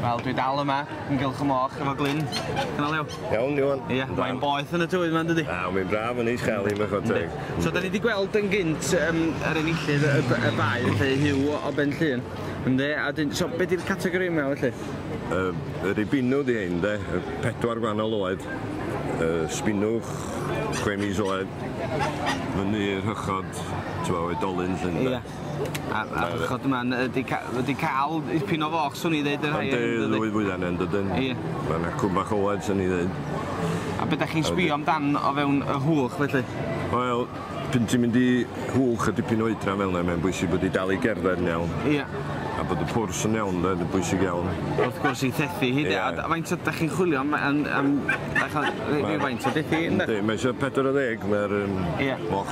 Wel, dwi dal yma, yn gylch y moch, efo Glyn. Dyna Leo. Iawn, Iwan. Ie, yeah, mae'n boeth yn y tywydd yma, dydy? A, mae'n braf yn eich chael i'n bechod teg. So, da ni wedi gweld yn gynt um, yr enillydd y, y bae, felly Hugh o Ben Llun. Ynddi, a dyn, so, beth yw'r categori yma, felly? Uh, yr i binw di hyn, de, pedwar gwahanol oed, uh, spinwch, chwe mis oed, fyny i'r hychod, t'mo' oedolyn 'lly ynde? Ia. A a ch'od ma' n'w 'di ca- ma' 'di ca'l ipyn o foch swn i ddeud y rhai hyn dydi? Yndi fwya na un dydyn? Ia. Ma' 'na cwm bach oed swn i ddeud. A be' 'dach chi'n sbio am dan o fewn y Hwlch felly? Wel p'un ti'n mynd i Hwlch a dipyn o oedran fel 'na mae'n bwysig bod 'i dal 'i gerdded yn iawn. Ia. A bod y pwrs yn iawn 'de yn bwysig iawn. Wrth gwrs 'i thethu hi 'de? Ia. A d- faint o 'dach chi'n chwilio am yym am faint o dethi ynde? Yndi mae isio pedwar ar ddeg ma'r yym... Ia. ...moch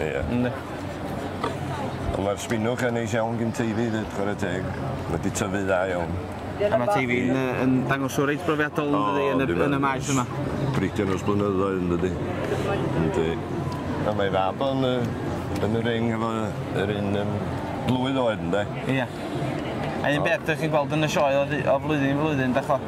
Ie. Yndi. On' ma'r sbinwch yn neis iawn gin Teifi 'fyd chware teg. Ma' 'di tyfu dda iawn. A ma' Teifi yn yy yn dangos o reit brofiadol yndydi yn y yn y maes yma. Bricio'n ers blynyddoedd yndydi? Yndi. A mae fab o'n yy yn y ring efo yy yr un yym blwydd oed ynde? Ia. A un peth 'dych chi'n gweld yn y sioe o ddy- o flwyddyn i flwyddyn 'dach ch'mo'?